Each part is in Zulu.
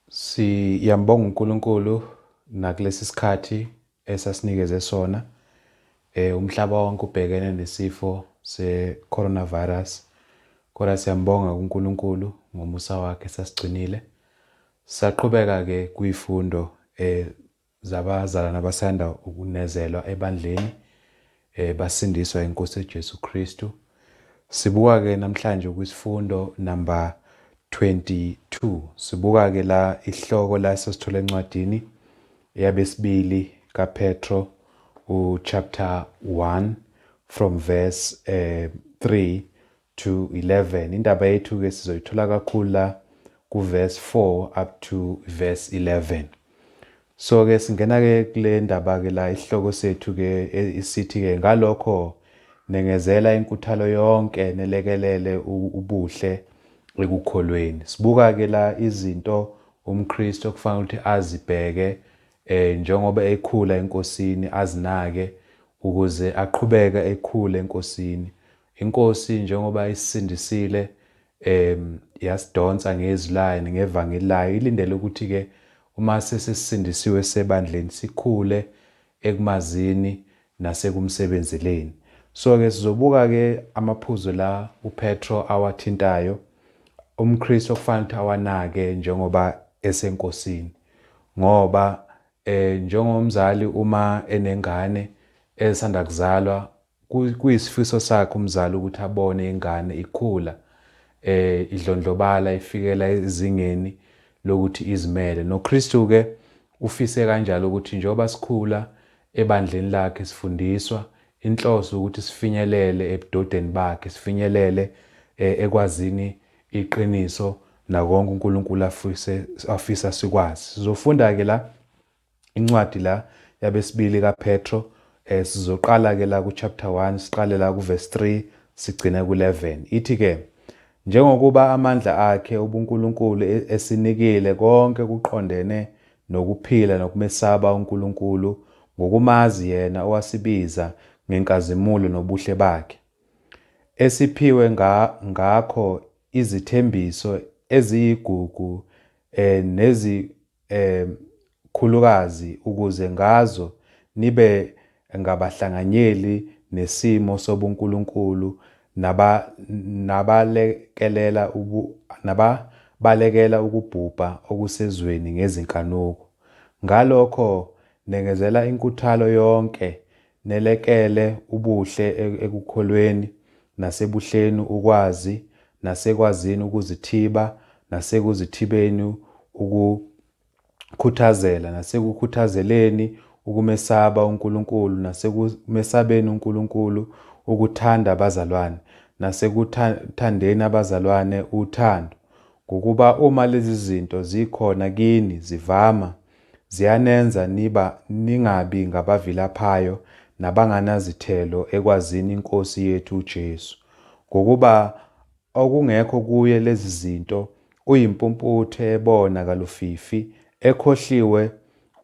Siyambonga uNkulunkulu nakulesi sikhathi esasinikeze sona. Eh umhlaba wonke ubhekene nesifo se-coronavirus. Kodwa siyambonga kuNkulunkulu ngomusa wakhe sasigcinile. Saqhubeka-ke kwifundo eh zabazalwane abasanda ukunezelwa ebandleni eh basindiswa inkosi uJesu Kristu sibuka ke namhlanje kwisifundo number 22 sibuka ke la ihloko la sesithola encwadini yabesibili kaPetro uchapter 1 from verse eh 3 to 11 indaba yethu ke sizoyithola kakhulu la ku verse 4 up to verse 11 so ke singena ke kule ndaba ke la isihloko sethu ke isithi ke ngalokho nengezela inkuthalo yonke nelekelele ubuhle ekukholweni sibuka ke la izinto umKristu okufanele ukuthi azibheke eh njengoba ekhula enkosini azinake ukuze aqhubeke ekhule enkosini INkosi njengoba isisindisile, um, yasidonsa ngeZwi laYo nangeVangeli laYo, ilindele ukuthi-ke uma sesisindisiwe sisebandleni, sikhule ekumazini nasekumsebenzeleni. So-ke sizobuka-ke amaphuzu la uPetro awathintayo, umKristu okufanele ukuthi awanake njengoba eseNkosini. Ngoba, um, njengomzali uma enengane esanda kuzalwa, Kuyisifiso sakhe umzali ukuthi abone ingane ikhula, eh, idlondlobala ifikela ezingeni lokuthi izimele. NoKristu ke ufise kanjalo ukuthi njengoba sikhula ebandleni lakhe sifundiswa inhloso ukuthi sifinyelele ebudodeni bakhe, sifinyelele eh, ekwazini iqiniso nakonke uNkulunkulu afise afisa sikwazi. Sizofunda ke la Incwadi la yabesibili kaPetro eh sizoqala ke la ku chapter 1 siqale la ku verse 3 sigcine ku 11 ithi ke njengokuba amandla akhe ubuNkulunkulu e-, esinikile konke kuqondene nokuphila nokumesaba uNkulunkulu ngokumazi yena owasibiza ngenkazimulo nobuhle bakhe esiphiwe nga, ngakho izithembiso eziyigugu eh, nezi, um khulukazi ukuze ngazo nibe ngabahlanganyeli nesimo sobuNkulunkulu naba, nabalekelela ubu, nababalekela ukubhubha okusezweni ngezinkanuko. Ngalokho nengezela inkuthalo yonke Nelekele ubuhle ekukholweni, nasebuhleni ukwazi, nasekwazini ukuzithiba, nasekuzithibeni ukukhuthazela, nasekukhuthazeleni ukumesaba uNkulunkulu, nasekumesabeni uNkulunkulu ukuthanda abazalwane, nasekuthandeni abazalwane uthando. Ngokuba uma lezizinto zikhona kini zivama, ziyanenza niba ningabi ngabavilaphayo nabanganazithelo ekwazini iNkosi yethu uJesu, ngokuba okungekho kuye lezi zinto uyimpumputhe ebona kalufifi, ekhohliwe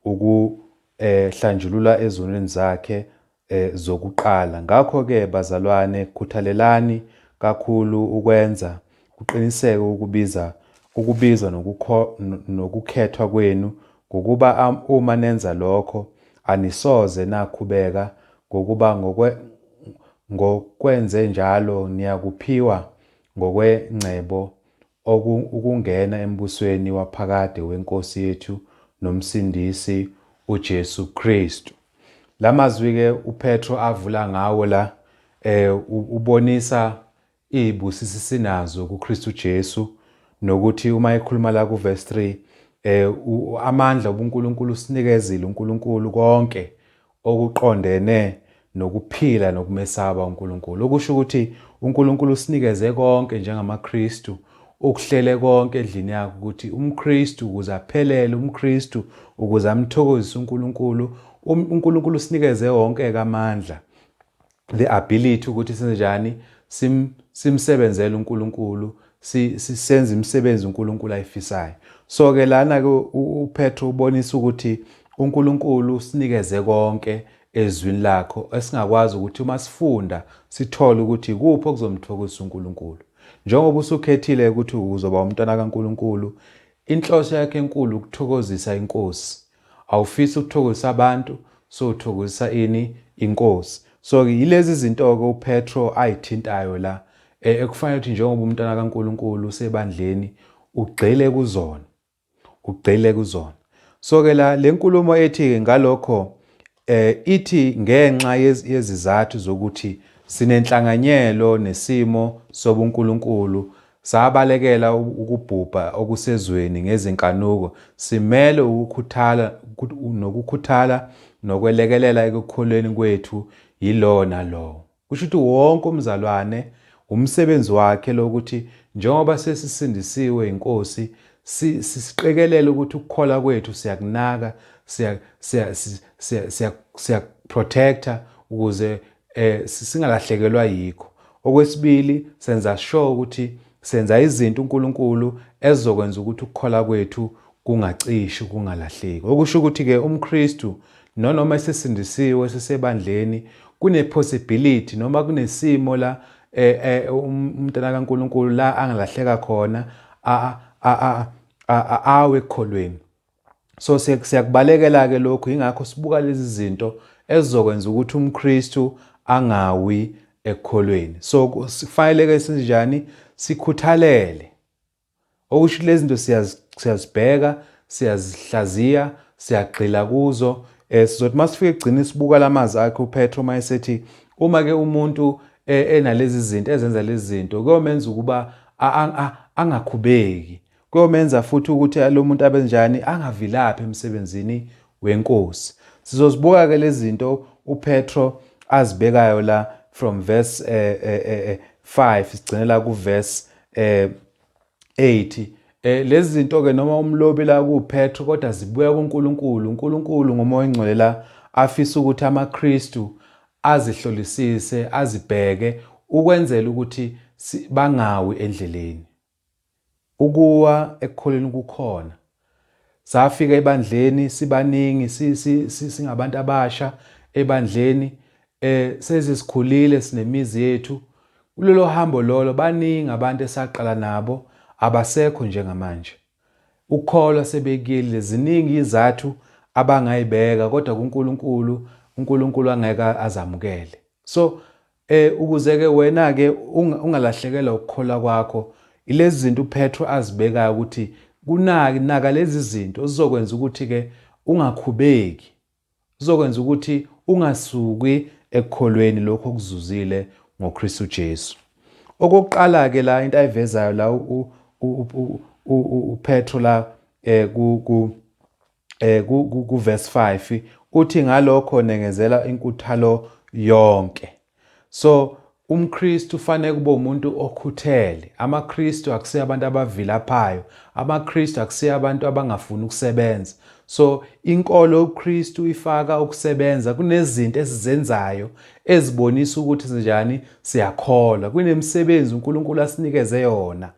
ukuhlanjululwa ezonweni zakhe zokuqala. Ngakho-ke bazalwane, khuthalelani kakhulu ukwenza kuqiniseke ukubiza, ukubizwa nokukho, nokukhethwa kwenu, ngokuba uma nenza lokho, anisoze nakhubeka, ngokuba ngokwe, ngokwenzenjalo niyakuphiwa ngokwengcebo Oku ukungena embusweni waphakade weNkosi yethu noMsindisi uJesu Kristu. La mazwi-ke uPetro avula ngawo la um ubonisa iy'busiso esinazo kuKristu Jesu nokuthi uma ekhuluma la kuvesi 3 um amandla ubuNkulunkulu usinikezile uNkulunkulu konke okuqondene nokuphila nokumesaba uNkulunkulu, okusho ukuthi uNkulunkulu usinikeze konke njengamaKristu, ukuhlele konke edlini yakhe ukuthi umKristu ukuze aphelele, umKristu ukuze amthokozise uNkulunkulu, um, uNkulunkulu usinikeze wonke-ke amandla. the ability ukuthi senzenjani sim simsebenzele uNkulunkulu sisenza imisebenzi uNkulunkulu ayifisayo so ke lana ke uPetru ubonisa ukuthi uNkulunkulu usinikeze konke ezwini lakho esingakwazi ukuthi uma sifunda sithole ukuthi kuphi okuzomthokozisa uNkulunkulu njengoba usukhethile ukuthi uzoba umntwana kaNkulunkulu inhloso yakhe enkulu ukuthokozisa inkosi awufisi ukuthokozisa abantu so uthokozisa ini inkosi so ke yilezi zinto ke uPetro ayithintayo la e, ekufanele ukuthi njengoba umntwana kaNkuluNkulu usebandleni ugxile kuzona ugxile kuzona so ke la lenkulumo ethi ke ngalokho Eh, ithi ngenxa yez- yezizathu zokuthi sinenhlanganyelo nesimo sobunkulunkulu, sabalekela u- ukubhubha okusezweni ngezinkanuko, simele ukukhuthala ukut- nokukhuthala nokwelekelela ekukholweni kwethu yilowo nalowo. Kusho ukuthi wonke umzalwane wumsebenzi wakhe lo ukuthi njengoba sesisindisiwe yiNkosi si, si, siqikelele ukuthi ukukholwa kwethu siyakunaka, siya, siya, siya, siya, siya protector ukuze eh, singalahlekelwa yikho. Okwesibili senza sure ukuthi senza izinto uNkulunkulu ezokwenza ukuthi ukukholwa kwethu kungacishi kungalahleki. Okusho ukuthi-ke umKristu nonoma esesindisiwe esesebandleni kune-possibility noma kunesimo la e, e, um, umntana kaNkulunkulu la angalahleka khona awe ekukholweni. So siyakubalekela-ke lokhu yingakho sibuka lezi zinto ezizokwenza ukuthi umKristu angawi ekukholweni. So kufanele-ke sinjani sikhuthalele Okusho lezi zinto siyazibheka, siyazihlaziya, siyagxila kuzo. Eh sizothi masifika ekugcina sibuka lamazwi akhe uPetro uma esethi uma ke umuntu eh, enalezi zinto ezenza lezi zinto kuyomenza ukuba angakhubeki. Kuyomenza futhi ukuthi lo muntu abenjani angavilaphi emsebenzini weNkosi. Sizozibuka ke lezinto uPetro azibekayo la from verse eh, eh, eh, eh 5 sigcine la ku verse eh 8 Eh lezi zinto ke noma umlobi la kuPetro kodwa zibuya kuNkulunkulu. uNkulunkulu ngomoya ongcwele la afisa ukuthi amaKristu azihlolisise, azibheke ukwenzela ukuthi bangawi endleleni. Ukuwa ekukholweni kukhona. Safika ebandleni sibaningi singabantu abasha ebandleni eh sezisikhulile sinemizi yethu. Kulolo hambo lolo baningi abantu esaqala nabo abasekho njengamanje. Ukukholwa sebekuyelile ziningi izathu abangayibeka kodwa kuNkulunkulu uNkulunkulu angeke azamukele. So E, Ukuze-ke wena-ke unga, ungalahlekelwa ukukholwa kwakho, ilezi zinto uPetru azibekayo ukuthi kunaki, naka lezi zinto, zizokwenza ukuthi-ke ungakhubeki. Zizokwenza ukuthi ungasuki ekukholweni lokho okuzuzile ngoKristu Jesu. Okokuqala-ke la into ayivezayo la uPetru la eh, ku, ku, eh kuverse 5 uthi ngalokho nengezela inkuthalo yonke so umKristu ufanele kube umuntu okhuthele amaKristu akusiya abantu abavilaphayo amaKristu akusiya abantu abangafuni ukusebenza so inkolo uKristu ifaka ukusebenza kunezinto esizenzayo ezibonisa ukuthi sinjani siyakholwa kunemisebenzi uNkulunkulu asinikeze yona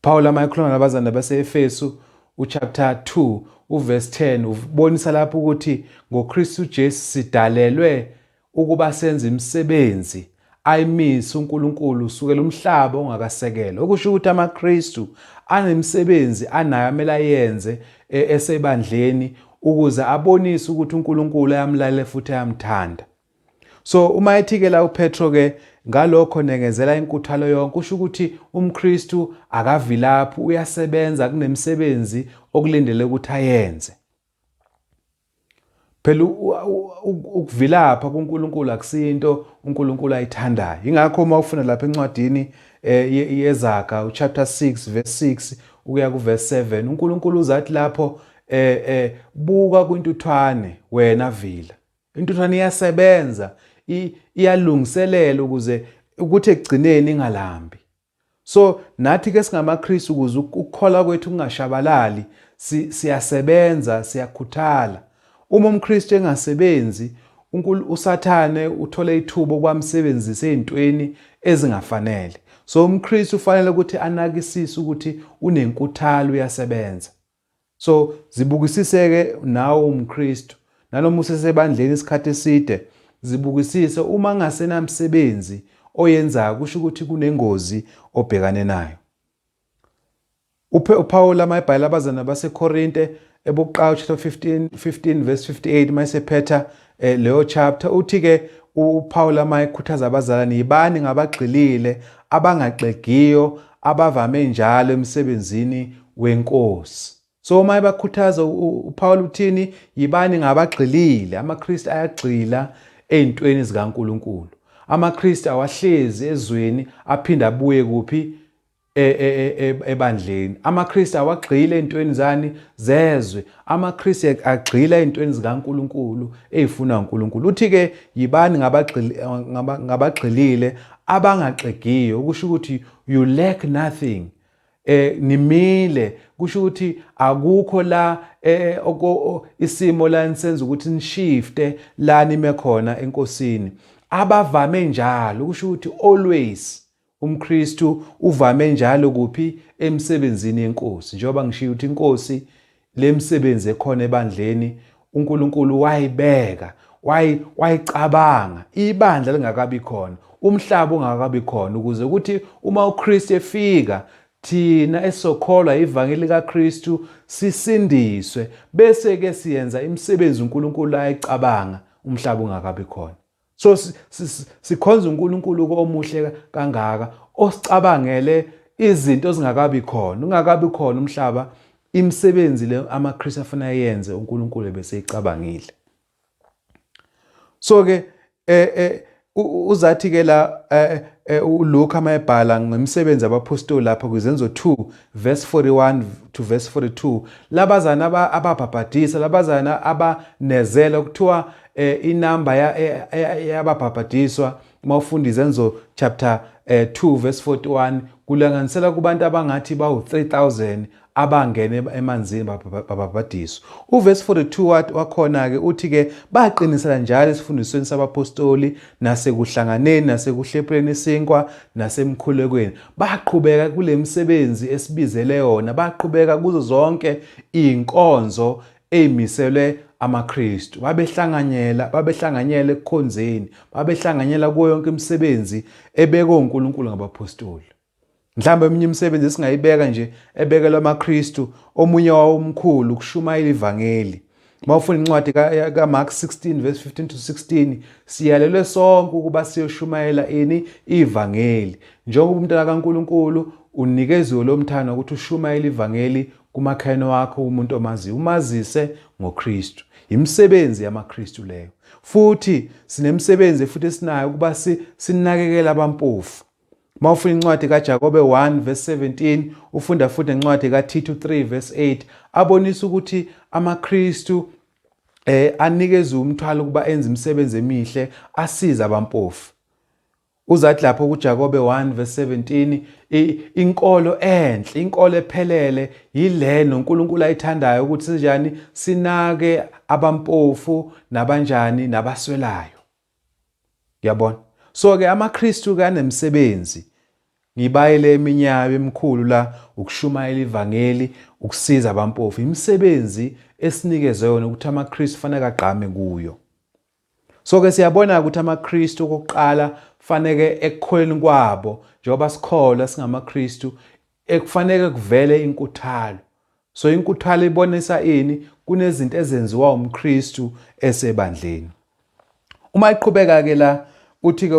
Paul ama ekhuluma nabazana baseEfesu uchapter 2 uverse 10 ubonisa lapho ukuthi ngoKristu Jesu sidalelwe ukuba senze imisebenzi ayimise uNkulunkulu usukela umhlaba ongakasekelwa okusho ukuthi amaKristu anemisebenzi anayo amele ayenze e, esebandleni ukuze abonise ukuthi uNkulunkulu ayamlalela futhi ayamthanda So uma ethikela uPetro ke ngalokho nengezela inkuthalo yonke kusho ukuthi umKristu akavilaphi uyasebenza kunemisebenzi okulindele ukuthi ayenze. Phela ukuvilapha kuNkulunkulu akusinto uNkulunkulu ayithandayo. Ingakho uma ufuna lapha encwadini eh, yezaga uchapter 6 verse 6 ukuya kuverse 7 uNkulunkulu uzathi lapho eh, eh buka kwintuthwane wena vila Intuthwane iyasebenza, iyalungiselela ukuze ukuthi ekugcineni ingalambi. So nathi ke singamaKristu ukuze ukukholwa kwethu kungashabalali, siyasebenza, siyakhuthala. Uma umKristu engasebenzi, uSathane uthole ithuba okwamsebenzisa ezintweni ezingafanele. So umKristu ufanele ukuthi anakisise ukuthi unenkuthalo uyasebenza. So zibukisiseke nawe umKristu nanoma usesebandleni isikhathi eside zibukisise uma ngasenamsebenzi oyenzayo kusho ukuthi kunengozi obhekane nayo uPawula mayibhala abazana baseKorinte ebokuqala chapter 15 15 verse 58 mayisephetha Eh, leyo chapter uthi ke uPaul ama ekhuthaza abazalwane yibani ngabagxilile abangaxegiyo abavame njalo emsebenzini wenkosi so uma ebakhuthaza uPaul uthini yibani ngabagxilile amaKristu ayagxila ezintweni zikaNkuluNkulu amaKristu awahlezi ezweni aphinde abuye kuphi e, e, e, ebandleni amaKristu awagxile ezintweni zani zezwe amaKristu agxila ezintweni zikaNkuluNkulu ezifuna uNkuluNkulu uthi ke yibani ngabagxilile abangaxegiyo ukusho ukuthi you lack nothing eh nimile kusho ukuthi akukho la eh isimo la nisenza ukuthi nishifte la nime khona enkosini abavame njalo kusho ukuthi always UmKristu uvame njalo kuphi? Emisebenzini yeNkosi. Njengoba ngishiye ukuthi iNkosi le misebenzi ekhona ebandleni uNkulunkulu wayibeka, wayi, wayicabanga ibandla lingakabi khona, umhlaba ungakabi khona, ukuze ukuthi uma uKristu efika thina esokholwa ivangeli likaKristu sisindiswe, bese-ke siyenza imisebenzi uNkulunkulu ayicabanga umhlaba ungakabi khona. So sikhonza uNkulunkulu omuhle kangaka osicabangele izinto zingakabi khona ungakabi khona umhlaba imisebenzi le amaKristu afuna yenze uNkulunkulu ebeseyicabangile so ke eh, eh uzathi ke la eh, eh, uLuka mayebhala ngemisebenzi abaphostoli lapha kwizenzo 2 verse 41 to verse 42 labazana ababhabhadisa labazana abanezela kuthiwa eh, inamba yababhabhadiswa uma ufunda izenzo chapter eh, 2 verse 41 kulanganisela kubantu abangathi bawu-3000 abangene emanzini babhabhadiswa uvesi 42 wakhona-ke uthi-ke baqinisela njalo esifundisweni sabapostoli nasekuhlanganeni nasekuhlephuleni isinkwa nasemkhulekweni baqhubeka kule misebenzi esibizele yona baqhubeka kuzo zonke iy'nkonzo eyimiselwe amaKristu. Babehlanganyela, babehlanganyela ekukhonzeni, babehlanganyela kuyo yonke imisebenzi ebekwe uNkulunkulu ngabaphostoli. Mhlawumbe eminye imisebenzi esingayibeka nje ebekelwe amaKristu, omunye wawo omkhulu ukushumayela ivangeli. Uma ufuna incwadi kaMark 16 verse 15 to 16, siyalelwe sonke ukuba siyoshumayela ini ivangeli. Njengoba umntana kaNkulunkulu unikeziwe lo mthana ukuthi ushumayele ivangeli Kumakhelwane wakho, kumuntu omaziyo, umazise ngoKristu. Yimisebenzi yamaKristu leyo. Futhi sinemisebenzi futhi esinayo ukuba si, sinakekele abampofu. Uma ufuna incwadi kaJakobe 1 verse 17, ufunda futhi nencwadi kaThithu 3 verse 8, abonisa ukuthi amaKristu eh anikeza umthwalo ukuba enze imisebenzi emihle asiza abampofu Uzathi lapho kuJakobe 1 verse 17 inkolo enhle inkolo ephelele yile noNkulunkulu ayithandayo ukuthi sinjani sinake abampofu nabanjani nabaswelayo yabona so ke amaKristu ke anemsebenzi ngibayele eminyayo emikhulu la ukushumayela ivangeli ukusiza abampofu imisebenzi esinikezwe yona ukuthi amaKristu fanele agqame kuyo So ke siyabona ukuthi amaKristu okuqala faneke ekukholeni kwabo njengoba sikholwa singamaKristu ekufaneke kuvele inkuthalo. So inkuthalo ibonisa ini kunezinto ezenziwa umKristu esebandleni. Uma iqhubeka ke la uthi ke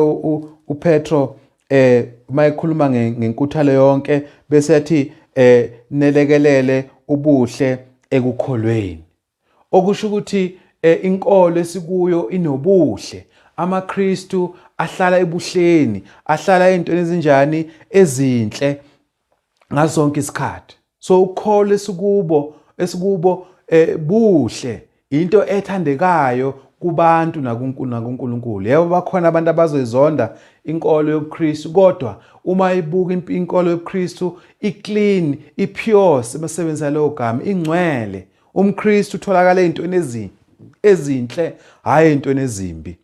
uPetro eh uma ekhuluma ngenkuthalo yonke bese yathi eh nelekelele ubuhle ekukholweni. Okusho ukuthi inkolo esikuyo inobuhle. AmaKristu ahlala ebuhleni, ahlala ey'ntweni ezinjani ezinhle ngaso sonke isikhathi. So ukukholwa esikubo esikubo eh buhle into ethandekayo kubantu nakuNkulunkulu. Yebo bakhona abantu abazoyizonda inkolo yobuKristu kodwa uma ibuka inkolo yobuKristu iclean, ipure sebesebenzisa leyo gama ingcwele. umKristu utholakala ezintweni ezinhle hhayi ezintweni ezimbi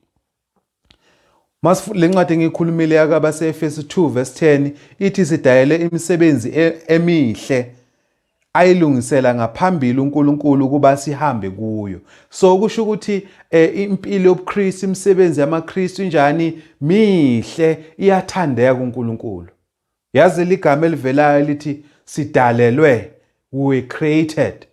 le ncwadi engiyikhulumile yakabase-efesi 2 vesi 10 ithi sidayele imisebenzi e-, emihle ayilungisela ngaphambili uNkulunkulu ukuba sihambe kuyo so kusho ukuthi e, impilo yobuKristu imisebenzi yamaKristu injani mihle iyathandeka kuNkulunkulu Yazi ligama elivelayo elithi sidalelwe, we were created.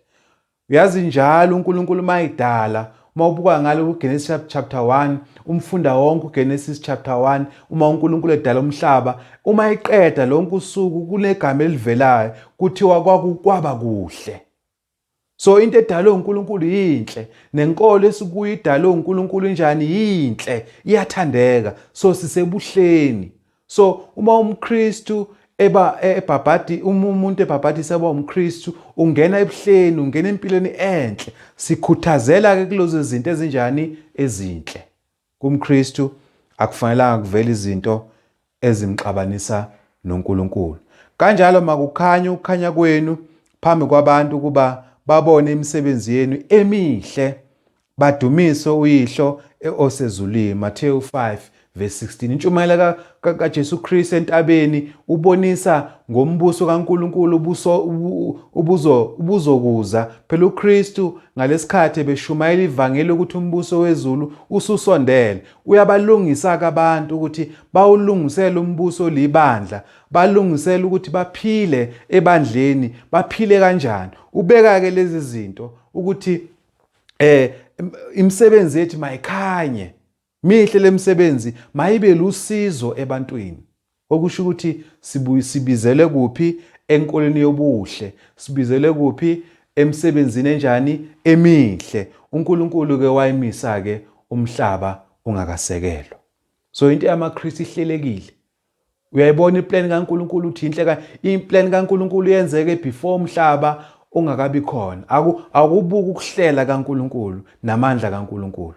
Uyazi njalo uNkulunkulu mayidala uma ubuka ngale kuGenesis chapter 1 umfunda wonke uGenesis chapter 1 uma uNkulunkulu edala umhlaba uma eqeda lonke usuku kunegama elivelayo kuthiwa kwakukwaba kuhle So into edalwe uNkulunkulu yinhle nenkolo esikuyo idalwe uNkulunkulu njani yinhle iyathandeka so sisebuhleni so uma umKristu eba ebhabhadi uma umuntu ebhabhadisa eba umKristu ungena ebuhleni ungena empilweni enhle sikhuthazela ke kulezo zinto ezinjani ezinhle KumKristu akufanelanga kuvele izinto ezimxabanisa noNkulunkulu. Kanjalo makukhanye ukukhanya kwenu phambi kwabantu ukuba babone imisebenzi yenu emihle badumise uYihlo osezulwini. Mateyu 5 verse 16. Intshumayela kaJesu Kristu entabeni ubonisa ngombuso kaNkulunkulu ubuso ubuzo ubuzokuza phela uKristu ngalesikhathi ebeshumayela ivangeli ukuthi umbuso wezulu ususondele uyabalungisa abantu ukuthi bawulungisele umbuso libandla balungisele ukuthi baphile ebandleni baphile kanjani ubeka ke lezi zinto ukuthi eh imisebenzi yethu mayikhanye Mihle lemisebenzi mayibe lusizo ebantwini. Okusho ukuthi sibizelwe kuphi enkolweni yobuhle, sibizelwe kuphi emsebenzini enjani emihle. UNkulunkulu ke wayimisa ke umhlaba ungakasekelwa. So into yamaKristu ihlelekile. Uyayibona iplan kaNkulunkulu uthi inhle ka iplan kaNkulunkulu yenzeke before umhlaba ungakabi khona. Aku akubuka ukuhlela kaNkulunkulu namandla kaNkulunkulu.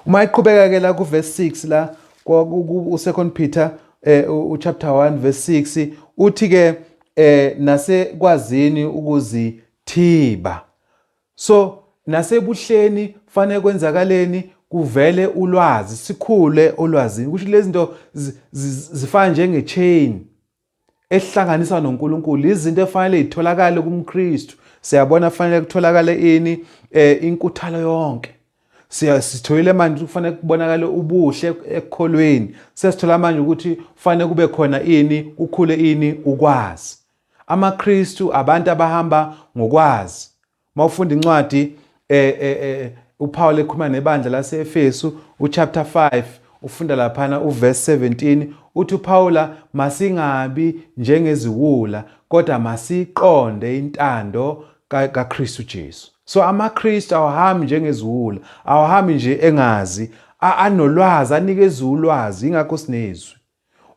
Uma iqhubeka ke la ku verse 6 la ku second Peter eh u chapter 1 verse 6 uthi ke eh nasekwazini ukuzithiba so nasebuhleni fanele kwenzakaleni kuvele ulwazi sikhule olwazini kusho lezi zinto zifana njenge chain esihlanganisa noNkulunkulu izinto efanele itholakale kumKristu siyabona kufanele kutholakale ini eh inkuthalo yonke sitholile manje kufanele kubonakale ubuhle ekukholweni sesithola manje ukuthi kufanele kube khona ini kukhule ini ukwazi amaKristu abantu abahamba ngokwazi Uma ufunda incwadi eh, eh, eh, uPawulu ekhuluma nebandla lase-Efesu uchapter 5 ufunda laphana uverse 17 uthi uPawula masingabi njengeziwula kodwa masiqonde intando kaKristu Jesu. So amaKristu awahambi njengeziwula, awahambi nje engazi, anolwazi, anikeza ulwazi ingakho sinezwi.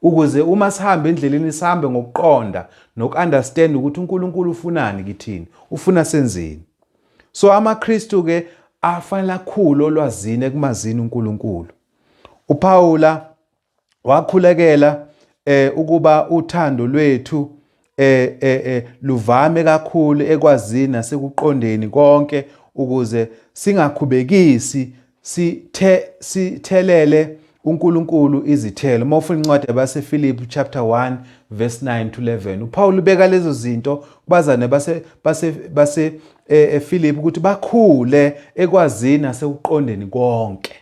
Ukuze uma sihamba endleleni sihambe ngokuqonda noku-understand ukuthi uNkulunkulu ufunani kithini, ufuna senzeni. So amaKristu ke afanele akhulu olwazini ekumazini uNkulunkulu. UPawula wakhulekela eh ukuba uthando lwethu eh, eh, eh, luvame kakhulu ekwazini nasekuqondeni konke ukuze singakhubekisi sithe sithelele uNkulunkulu izithelo. Uma ufuna incwadi yabaseFilipi chapter 1 verse 9 to 11. UPaul ubeka lezo zinto kubazane base base base eh, eFilipi ukuthi bakhule ekwazini nasekuqondeni konke.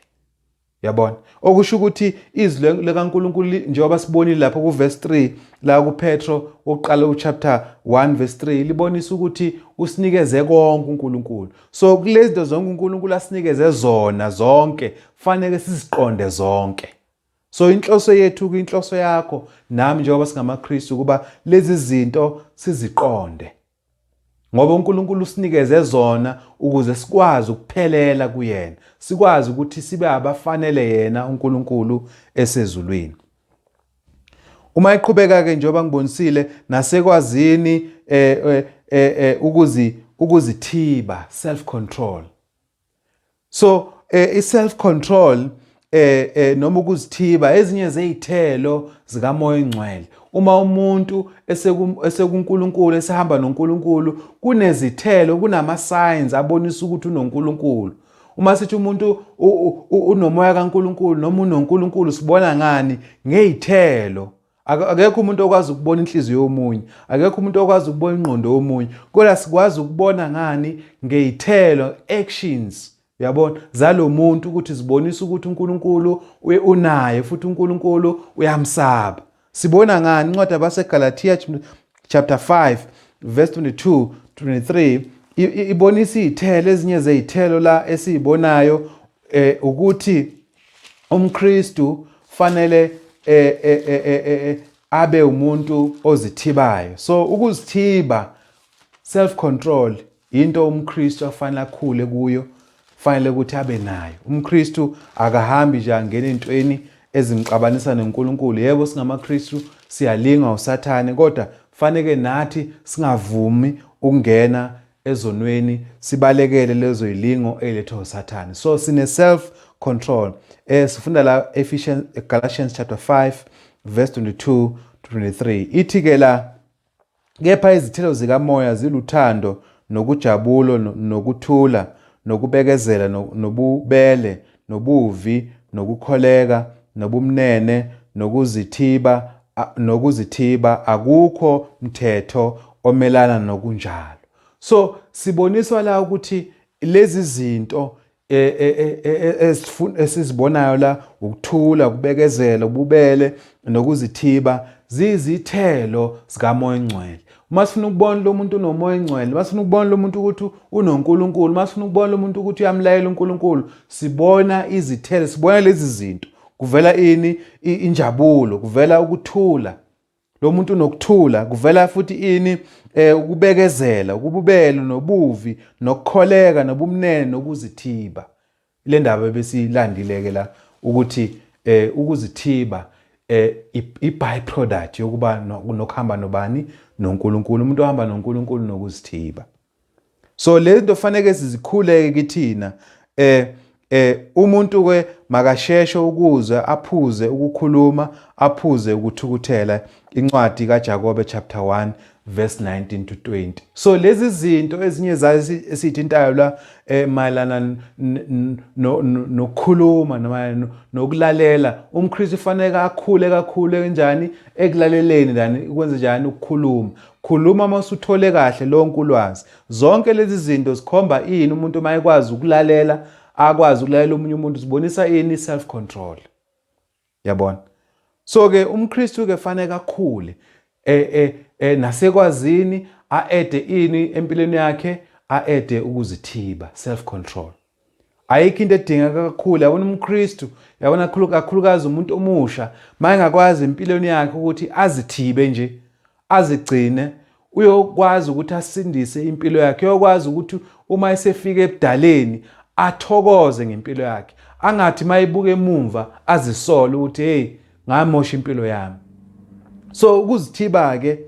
yabona okusho ukuthi izwi likaNkuluNkulu njengoba sibonile lapho kuverse 3 la kuPetro wokuqala uchapter 1 verse 3 libonisa ukuthi usinikeze konke uNkulunkulu so kulezinto zonke uNkulunkulu asinikeze zona zonke fanele siziqonde zonke so inhloso yethu kwinhloso yakho nami njengoba singamaKristu kuba lezi zinto siziqonde Ngoba uNkulunkulu usinikeze zona ukuze sikwazi ukuphelela kuyena, sikwazi ukuthi sibe abafanele yena uNkulunkulu esezulwini. Uma eqhubeka ke njengoba ngibonisile nasekwazini eh, eh, eh, eh, ukuzi ukuzithiba self control. so eh, i self control eh, eh noma ukuzithiba ezinye zezithelo zikamoya ongcwele uma umuntu esekuNkulunkulu esehamba noNkulunkulu kunezithelo kunama signs abonisa ukuthi unoNkulunkulu uma sithi umuntu unomoya kaNkulunkulu noma unoNkulunkulu sibona ngani ngezithelo Akekho umuntu okwazi ukubona inhliziyo yomunye, akekho umuntu okwazi ukubona ingqondo yomunye. Kodwa sikwazi ukubona ngani ngey'thelo, actions. Uyabona zalo muntu ukuthi zibonisa ukuthi uNkulunkulu unaye futhi uNkulunkulu uyamsaba. Sibona ngani incwadi abaseGalatia chapter 5 verse 22 23 ibonisa iy'thelo ezinye zey'thelo la esiyibonayo eh ukuthi umKristu fanele eh, eh, eh, eh, eh, eh, abe umuntu ozithibayo so ukuzithiba self control into umKristu afanele akhule kuyo fanele ukuthi abe nayo umKristu akahambi nje angena entweni ezimxabanisa noNkulunkulu yebo singamaKristu siyalingwa usathane kodwa faneke nathi singavumi ukungena ezonweni sibalekele lezo yilingo elethwa usathane so sine self control eh sifunda la Ephesians Galatians chapter 5 verse 22 to 23 ithi ke la kepha izithelo zikamoya ziluthando nokujabulo nokuthula nokubekezela nobubele nobuvi, nokukholeka, nobumnene, nokuzithiba, a, nokuzithiba, akukho mthetho omelana nokunjalo. So siboniswa la ukuthi lezi zinto E, e, e, esizibonayo la ukuthula ukubekezela ububele nokuzithiba zizithelo zikamoya ongcwele uma sifuna ukubona lo muntu unomoya engcwele uma sifuna ukubona lo muntu ukuthi unonkulunkulu uma sifuna ukubona lo muntu ukuthi uyamlayela unkulunkulu sibona izithelo sibona lezi zinto kuvela ini injabulo kuvela ukuthula lo muntu unokuthula kuvela futhi ini eh ukubekezela ukububelo nobuvi nokukholeka nobumnene nokuzithiba Le ndaba ebesiyilandile-ke la ukuthi eh, ukuzithiba eh, i-byproduct yokuba nokuhamba nobani noNkulunkulu umuntu ohamba noNkulunkulu nokuzithiba so le nto faneke sizikhuleke kithina eh eh umuntu ke makasheshe ukuze aphuze ukukhuluma aphuze ukuthukuthela incwadi kaJakobe chapter 1 verse 19 to 20 so lezi zinto ezinye zazi esithintayo la eh, mayelana nokukhuluma noma nokulalela umKristu ufanele akhule kakhulu kanjani ekulaleleni lani ukwenza njani ukukhuluma khuluma uma usuthole kahle lonke ulwazi zonke lezi zinto zikhomba ini umuntu uma ekwazi ukulalela akwazi ukulalela omunye umuntu zibonisa ini self control Yabona? So ke umKristu ke fanele akhule eh eh, eh nasekwazini aede ini empilweni yakhe aede ukuzithiba self control. Ayikho into edingeka kakhulu yabona umKristu yabona kakhulukazi umuntu omusha mayengakwazi empilweni yakhe ukuthi azithibe nje azigcine uyokwazi ukuthi asindise impilo yakhe uyokwazi ukuthi uma esefika ebudaleni athokoze ngempilo yakhe angathi mayibuka emumva azisole ukuthi hey ngamosha impilo yami so ukuzithiba ke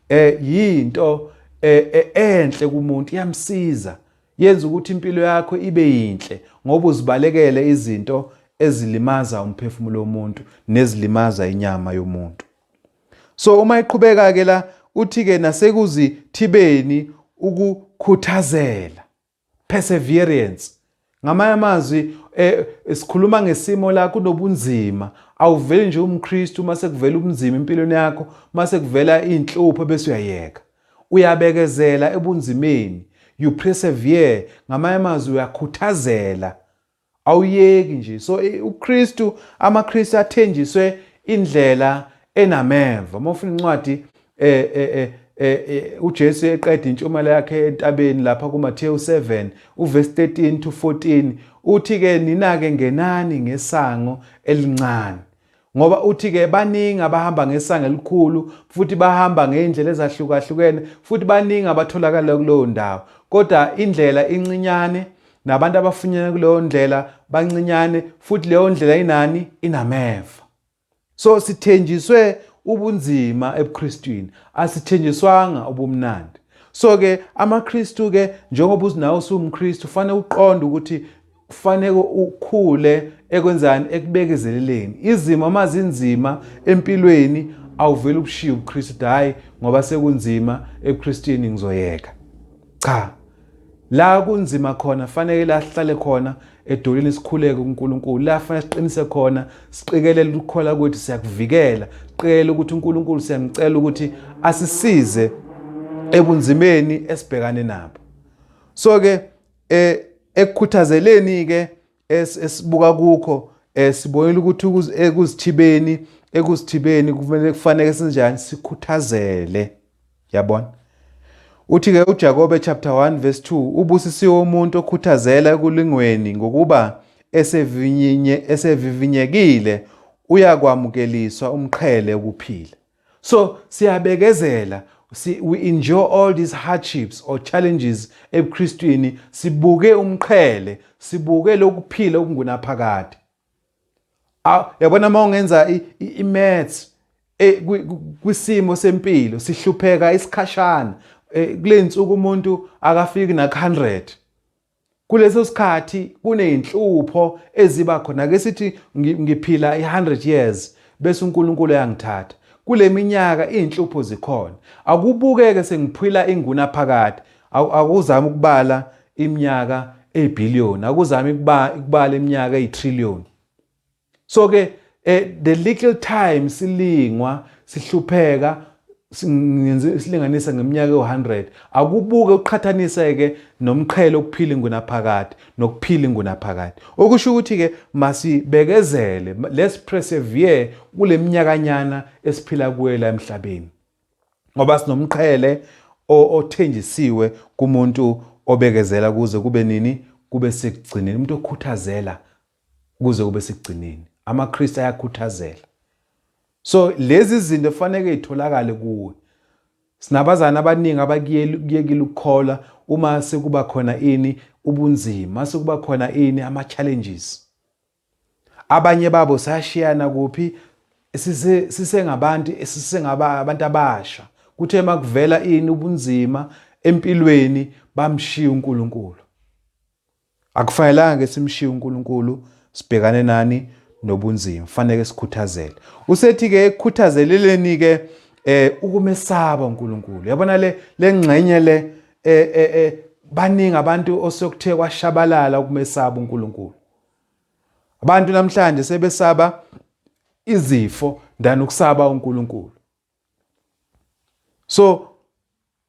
eh yinto eh, eh, enhle kumuntu iyamsiza yenza ukuthi impilo yakho ibe yinhle ngoba uzibalekele izinto ezilimaza umphefumulo womuntu nezilimaza inyama yomuntu so uma iqhubeka ke la uthi ke nasekuzithibeni ukukhuthazela perseverance ngamanye amazwi eh sikhuluma ngesimo la kunobunzima awuveli nje umKristu uma sekuvela ubunzima empilweni yakho uma sekuvela inhlupho bese uyayeka uyabekezela ebunzimeni you persevere ngamanye amazwi uyakhuthazela Awuyeki nje. So uKristu amaKristu athenjiswe indlela enameva. Uma ufuna incwadi eh eh eh Eh, eh, uJesu eqeda intshumayelo yakhe entabeni lapha kuMathewu 7 uverse 13 to 14 uthi ke nina ke ngenani ngesango elincane Ngoba uthi-ke baningi abahamba ngesango elikhulu, futhi bahamba ngey'ndlela ezahlukahlukene, futhi baningi abatholakala kuleyo ndawo. Kodwa indlela incinyane, nabantu abafunyana kuleyo ndlela bancinyane, futhi leyo ndlela inani? Inameva. So sithenjiswe ubunzima ebuKristwini, asithenjiswanga ubumnandi. So-ke amaKristu-ke njengoba nawe usuwumKristu, ufanele uqonde ukuthi Kufaneke ukhule ekwenzani ekubekezeleleni. Izimo uma zinzima empilweni awuvele ubushiye ubuKristu hhayi ngoba sekunzima ebuKristwini ngizoyeka. Cha. La kunzima khona faneke la sihlale khona edolweni sikhuleke kuNkulunkulu. La fanele siqinise khona siqikelele ukukhola kwethu siyakuvikela. Siqikelele ukuthi uNkulunkulu siyamcela ukuthi asisize ebunzimeni esibhekane nabo. So ke eh ekukhuthazeleni ke esibuka kukho eh sibonile ukuthi ekuzithibeni eh, ekuzithibeni kufanele kufanele sinjani sikhuthazele yabona uthi ke uJakobe chapter 1 verse 2 ubusisiwe umuntu okhuthazela ekulingweni ngokuba esevinye esevivinyekile uyakwamukeliswa umqhele ukuphila So siyabekezela si, we enjoy all these hardships or challenges ebuKristwini sibuke umqhele sibuke lokuphila okungunaphakade yabona uma ungenza i-maths e, kwisimo sempilo sihlupheka isikhashana e, kule nsuku umuntu akafiki nak-100 Kuleso sikhathi kuney'nhlupho eziba khona. Ake sithi ngiphila i-100 years bese uNkulunkulu eyangithatha. Kule minyaka iy'nhlupho zikhona. Akubuke-ke sengiphila ingunaphakade. Akuzame ukubala iminyaka ey'bhiliyoni. Akuzame ukubala iminyaka ey'triliyoni. so ke eh, the little time silingwa sihlupheka silinganisa ngeminyaka ewu-100 akubuke uqhathanise-ke nomqhele okuphila ingunaphakade nokuphila ingunaphakade okusho ukuthi-ke masibekezele let's persevere kule minyakanyana esiphila kuyo la emhlabeni ngoba sinomqhele othenjisiwe kumuntu obekezela kuze kube nini kube sekugcineni umuntu okhuthazela kuze kube sekugcineni. AmaKristu ayakhuthazela. So lezi zinto kufanele itholakale kuwe. Sinabazana abaningi abakuyekile ukukholwa uma sekuba khona ini ubunzima, sekuba khona ini ama challenges. Abanye babo sayashiyana kuphi sise sisengabantu sisengaba abantu abasha. Kuthe makuvela ini ubunzima empilweni bamshiya uNkulunkulu. Akufanelanga-ke simshiye uNkulunkulu sibhekane nani nobunzima, faneke sikhuthazele. Usethi-ke ekukhuthazeleleni-ke eh ukumesaba uNkulunkulu. Yabona le lengxenye le eh eh, eh baningi abantu osokuthe kwashabalala ukumesaba uNkulunkulu. Abantu namhlanje sebesaba izifo than ukusaba uNkulunkulu. so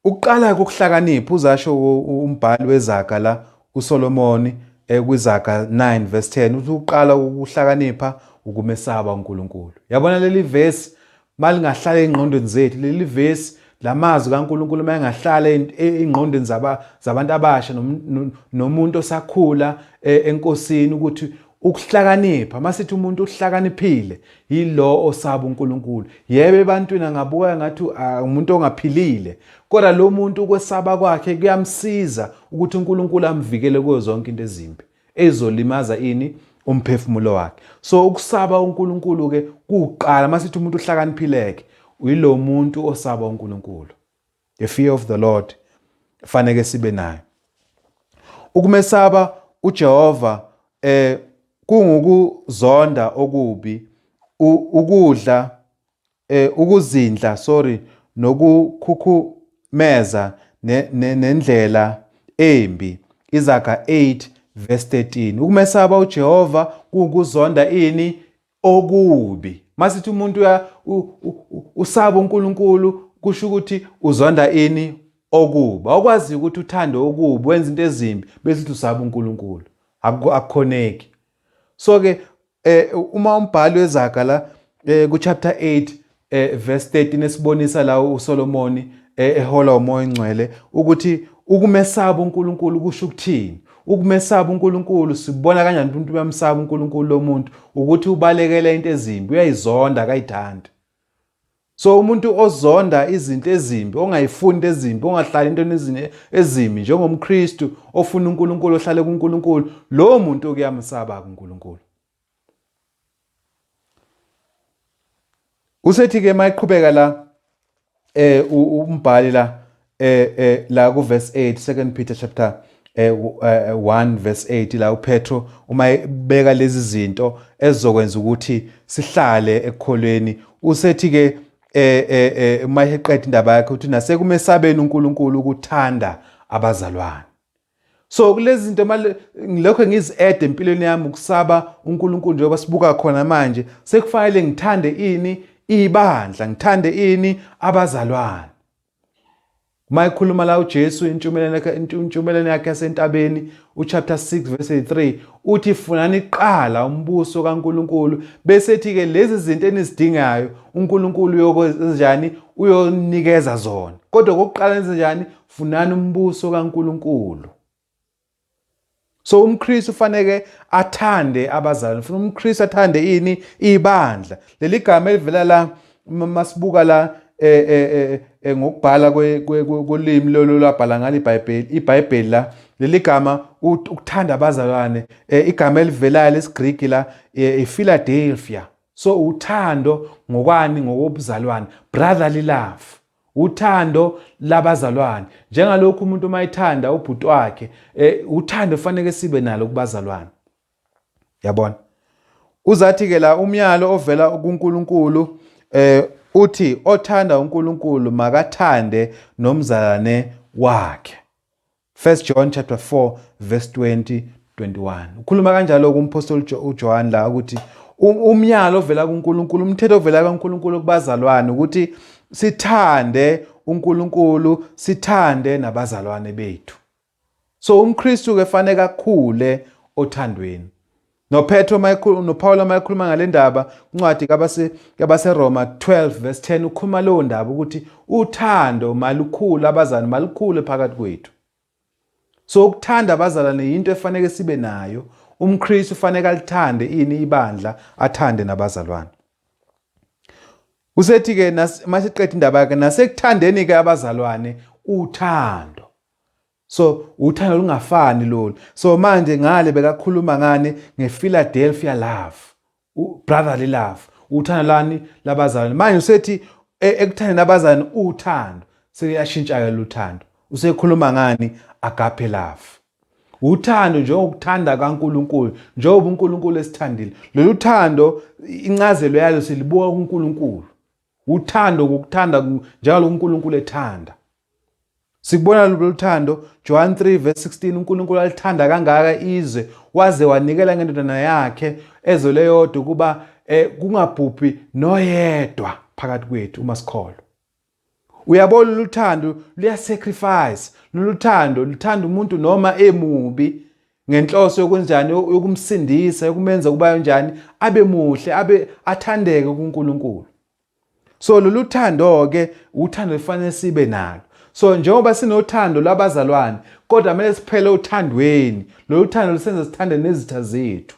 ukuqala kokuhlakanipha uzasho umbhali wezaga la uSolomoni eh, kwizaga 9 verse 10 uthi uqala ukuhlakanipha ukumesaba uNkulunkulu yabona leli verse malingahlala engqondweni zethu leli verse lamazwi kaNkulunkulu mayengahlala e-, engqondweni zaba zabantu abasha nomuntu osakhula e-, enkosini ukuthi Ukuhlakanipha, masithi umuntu uhlakaniphile, yilo osaba uNkulunkulu. Yebo ebantwini angabuka ngathi umuntu ongaphilile, kodwa lo muntu ukwesaba kwakhe kuyamsiza ukuthi uNkulunkulu amvikele kuyo zonke into ezimbi ezolimaza ini umphefumulo wakhe. So ukusaba uNkulunkulu ke kuqala masithi umuntu uhlakaniphileke, uyilo muntu osaba uNkulunkulu. the fear of the lord faneke sibe nayo ukumesaba ujehova eh kungukuzonda okubi ukudla eh ukuzindla sorry nokukhukhumeza nendlela embi izaga 8 verse 13 ukumesaba uJehova kukuzonda ini okubi masithi umuntu uya usaba uNkulunkulu kusho ukuthi uzonda ini okubi awukwazi ukuthi uthande okubi wenza into ezimbi bese uthi usaba uNkulunkulu akukhoneki so ke eh uma umbhali wezaga la eh ku chapter 8 e, verse 13 esibonisa la uSolomoni e, ehola umoya ongcwele ukuthi ukumesaba uNkulunkulu kusho ukuthini ukumesaba uNkulunkulu sibona kanjani ukuthi umuntu uyamsaba uNkulunkulu lomuntu ukuthi ubalekela into ezimbi uyayizonda akayithandi so umuntu ozonda izinto ezimbi ongayifuni into ezimbi ongahlali entweni ezini ezimbi njengomKristu ofuna uNkulunkulu ohlale kuNkulunkulu lowo muntu okuyamsaba kuNkulunkulu Usethi ke mayiqhubeka la eh umbhali la eh, eh la ku verse 8 second Peter chapter eh 1 eh, eh, verse 8 la uPetro uma ebeka lezi zinto ezokwenza ukuthi sihlale ekukholweni usethi ke eh eh, eh uma eqeda indaba yakhe uthi nasekumesabeni uNkulunkulu ukuthanda abazalwane so kulezi zinto manje ngilokho ngizi-add empilweni yami ukusaba unkulunkulu njengoba sibuka khona manje sekufanele ngithande ini ibandla ngithande ini abazalwane uma ekhuluma la ujesu intshumeleni yakhe yasentabeni uchapter 6 verse 3 uthi funani kuqala umbuso kankulunkulu bese ethi-ke lezi zinto enizidingayo unkulunkulu uyokwenzanjani uyonikeza zona kodwa kokuqala nenzenjani Funani umbuso kaNkulunkulu. So umKristu ufaneke athande abazalwane. Ufuna umKristu athande ini? Ibandla. Leli gama elivela la masibuka la eh, eh, eh, ngokubhala kolimi lolo labhala ngalo iBhayibheli iBhayibheli la leli gama ukuthanda abazalwane igama elivelayo lesiGriki la iPhiladelphia so uthando ngokwani ngokobuzalwane brotherly love Uthando labazalwane. Njengalokhu umuntu uma ethanda ubhuti wakhe, eh, uthando faneke sibe nalo kubazalwane. Yabona? Uzathi ke la umyalo ovela kuNkulunkulu eh uthi othanda uNkulunkulu makathande nomzalwane wakhe. 1 John chapter 4 verse 20 21 ukhuluma kanjalo kumphostoli uJohn la ukuthi umyalo ovela kuNkulunkulu umthetho ovela kuNkulunkulu kubazalwane ukuthi sithande uNkulunkulu sithande nabazalwane bethu so umKristu ke fanele akhule othandweni Nophetro uma ekhuluma noPawulu uma ekhuluma ngale ndaba incwadi kabase kabaseRoma 12 verse 10 ukhuluma leyo ndaba ukuthi uthando malukhulu abazali malukhulu phakathi kwethu. So ukuthanda abazalwane yinto efanele sibe nayo. UmKristu ufanele alithande ini ibandla athande nabazalwane. Usethi ke masiqeda indaba yakhe nasekuthandeni ke abazalwane uthando. So uthando lungafani lolu. So manje ngale bekakhuluma ngani ngePhiladelphia love. Brotherly love. Uthando lani labazalwane. Manje usethi e, ekuthandeni abazalwane uthando. Sekuyashintsha ke luthando. Usekhuluma ngani agape love. Uthando njengokuthanda kaNkuluNkulu, njengoba uNkuluNkulu esithandile. Lolu thando incazelo yalo silibuka kuNkuluNkulu. Uthando ngokuthanda njalo uNkulunkulu ethanda. Sikubona lolu thando John 3 verse 16 uNkulunkulu alithanda kangaka izwe waze wanikela ngendodana yakhe ezwe leyodwa ukuba eh, kungabhubhi noyedwa phakathi kwethu uma sikholwa. Uyabona lolu thando luyasacrifice, lolu thando luthanda umuntu noma emubi ngenhloso yokunjani yokumsindisa yokumenza ukuba yonjani abe muhle abe athandeke kuNkulunkulu so lolu thando ke uthando lifanele sibe nalo so njengoba sinothando lwabazalwane kodwa kumele siphele othandweni lolu thando lusenza sithande nezitha zethu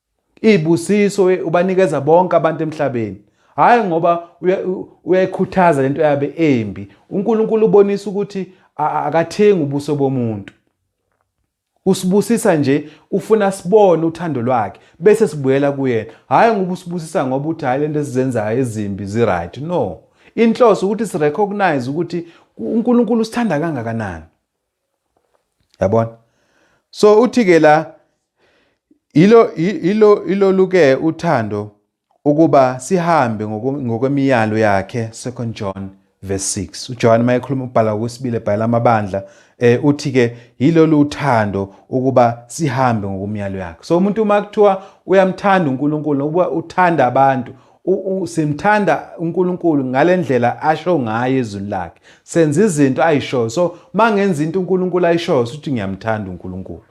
Izibusiso ubanikeza bonke abantu emhlabeni. Hhayi ngoba uyayikhuthaza lento yabe embi. UNkulunkulu ubonisa ukuthi akathengi ubuso bomuntu. Usibusisa nje ufuna sibone uthando lwakhe bese sibuyela kuyena. Hhayi ngoba usibusisa ngoba uthi hhayi lento esizenzayo ezimbi ziright. No. Inhloso ukuthi sirecognize ukuthi uNkulunkulu usithanda kangakanani. yabona so uthi ke la yilo yilo iloluke uthando ukuba sihambe ngokwemiyalo yakhe 2 John verse 6 uJohane mayekhuluma ubhala kwesibili ebhala amabandla eh uthi ke yilolu uthando ukuba sihambe ngokumyalo yakhe so umuntu uma kuthiwa uyamthanda uNkulunkulu ukuba uthanda abantu simthanda uNkulunkulu ngalendlela asho ngayo ezwini lakhe senza izinto ayishoyo so mangenza into uNkulunkulu ayishoyo futhi ngiyamthanda uNkulunkulu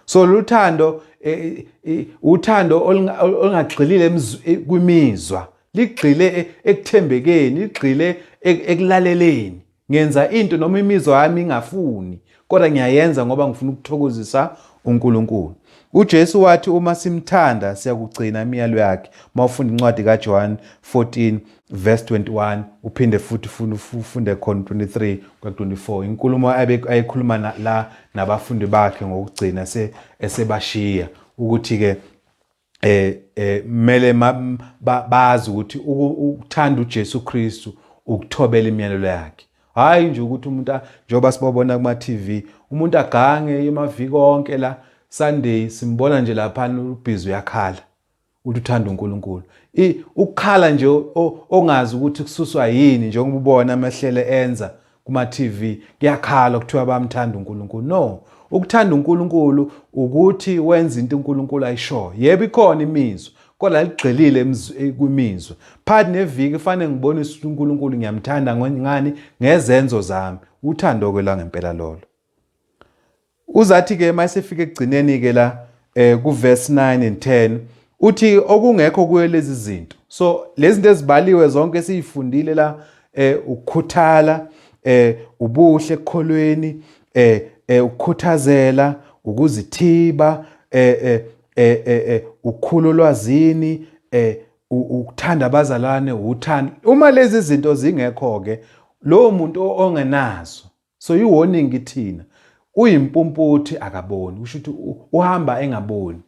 so luthando e, e, uthando olungagxilile e, kwimizwa ligxile ekuthembekeni ligxile ekulaleleni Ngenza into noma imizwa yami ingafuni, kodwa ngiyayenza ngoba ngifuna ukuthokozisa uNkulunkulu. UJesu wathi uma simthanda siyakugcina imiyalo yakhe. Uma ufunda incwadi kaJohn 14 verse 21 uphinde futhi ufunde khona 23 kwa 24 inkulumo ayekhuluma la nabafundi bakhe ngokugcina esebashiya ukuthi ke eh eh mele bazi ukuthi ukuthanda uJesu Kristu ukuthobela imiyalelo yakhe hayi nje ukuthi umuntu njengoba sibabona kuma TV umuntu agange emaviki onke la Sunday simbona nje lapha ubhizi uyakhala uthi uthanda uNkulunkulu ukukhala nje ongazi ukuthi kususwa yini njengoba ubona amahlele enza Kuma TV kuyakhalwa kuthiwa bamthanda uNkulunkulu. No, ukuthanda uNkulunkulu ukuthi wenza into uNkulunkulu ayishoyo. Yebo ikhona imizwa kodwa ligxilile eh, kwimizwa. Phakathi neviki kufanele ngibonise ukuthi uNkulunkulu ngiyamthanda ngani ngezenzo zami. Uthando-ke langempela lolo. Uzathi ke mayesefika ekugcineni ke la eh ku verse 9 and 10 uthi okungekho kuyo lezi zinto. So lezi zinto ezibaliwe zonke esizifundile la eh ukukhuthala eh ubuhle ekukholweni eh eh ukukhuthazela ukuzithiba eh eh eh eh, eh ukukhulu lwazini eh ukuthanda abazalwane uthando uma lezi zinto zingekho ke lowo muntu ongenazo So yi warning kithina. Uyimpumputhi akaboni, kusho ukuthi uhamba engaboni.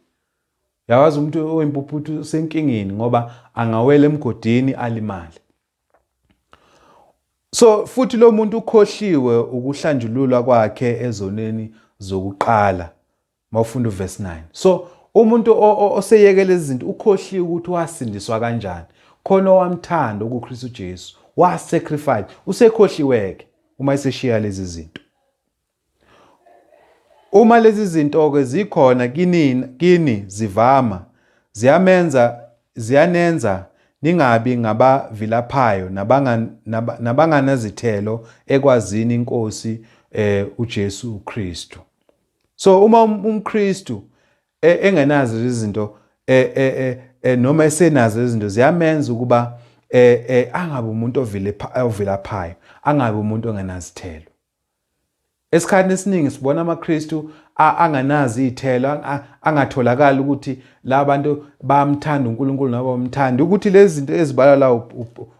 Yawazi umuntu oyimpuphuthi usenkingeni ngoba angawela emgodini alimale. So futhi lo muntu ukhohliwe ukuhlanjululwa kwakhe ezoneni zokuqala mawufunda uverse 9 so umuntu oseyeke lezi zinto ukhohliwe ukuthi wasindiswa kanjani khona owamthanda okuKristu Jesu wasacrifice usekhohliweke uma eseshiya lezi zinto uma lezi zinto ke zikhona kinini kini zivama ziyamenza ziyanenza ningabi ngabavilaphayo nabanganazithelo ekwazini inkosi eh uJesu uKristu so uma um, umKristu e, engenazo izinto e, e, noma esenazo izinto ziyamenza ukuba angabe umuntu ovilaphayo angabe umuntu ongenazithelo esikhathini esiningi sibona amaKristu anganazi iy'thelo angatholakali ukuthi la bantu bayamthanda uNkulunkulu noma bamthanda ukuthi lezi zinto ezibalwa la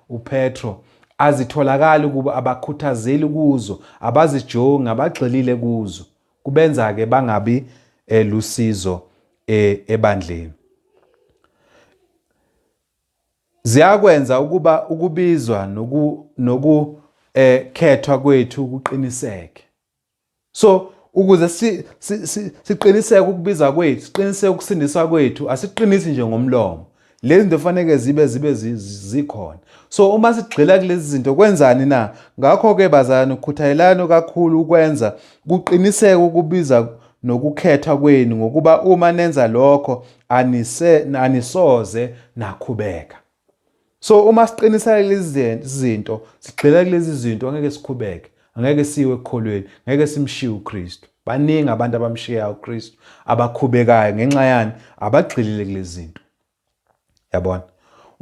uPetro Azitholakali kubo, abakhuthazeli kuzo, abazijongi, abagxilile kuzo. Kubenza-ke bangabi eh, lusizo eh, ebandleni. Ziyakwenza ukuba ukubizwa nokukhethwa eh, kwethu kuqiniseke. so ukuze siqiniseke ukubiza kwethu siqiniseke ukusindiswa kwethu asiqinisi nje ngomlomo lezi zinto faneke zibe zibe zikhona so uma sigxila kulezi zinto kwenzani na ngakho-ke bazalwane ukukhuthayelani kakhulu ukwenza kuqiniseke ukubiza nokukhethwa kwenu ngokuba uma nenza lokho anise, anisoze nakhubeka So uma siqinisela lezi zinto, sigxila kulezi zinto angeke sikhubeke, angeke siwe ekukholweni, ngeke simshiye uKristu. Baningi abantu abamshiyayo uKristu abakhubekayo ngenxa yani abagxilile kulezi zinto. Yabona?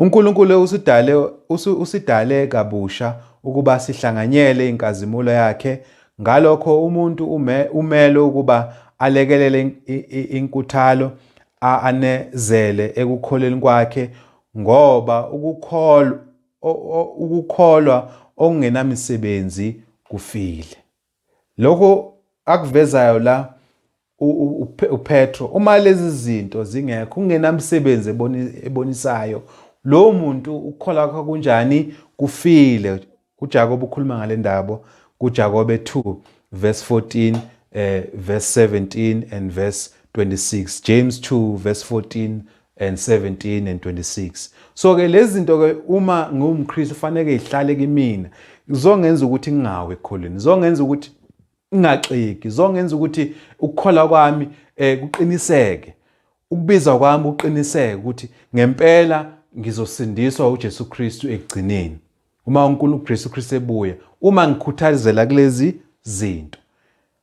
uNkulunkulu usidale usidale kabusha ukuba sihlanganyele inkazimulo yakhe ngalokho umuntu ume, umelo ukuba alekelele inkuthalo Aanezele ekukholweni kwakhe ngoba ukukholwa, o, o, ukukholwa okungenamisebenzi kufile. Lokho akuvezayo la u, u, u, uPetro, uma lezi zinto zingekho, kungenamsebenzi eboni, ebonisayo, lowo muntu ukukholwa kwakhe kunjani? Kufile. UJakobe ukhuluma ngale ndaba kuJakobe 2 verse 14 eh, verse 17 and verse 26 James 2 verse 14 and 17 and 26 so ke lezi zinto ke uma ngiwumKristu fanele ihlale kimina izongenza ukuthi ngingawe ekholweni izongenza ukuthi ingaxiki zongenza ukuthi ukukhola kwami eh kuqiniseke ukubizwa kwami uqiniseke ukuthi ngempela ngizosindiswa uJesu Kristu ekugcineni uma uNkulunkulu uJesu Kristu ebuya uma ngikhuthazela kulezi zinto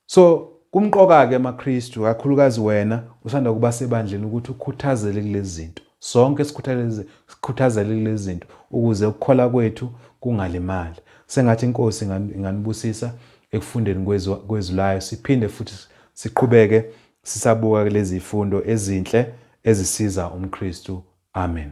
so kumqoka ke amaKristu kakhulukazi wena usanda kuba sebandleni ukuthi ukhuthazele kulezi zinto sonke sikhuthaleze sikhuthazele kulezi zinto ukuze ukukhola kwethu kungalimali sengathi inkosi inganibusisa ekufundeni kwezwi kwezwi layo siphinde futhi siqhubeke sisabuka kulezi zifundo ezinhle ezisiza umKristu amen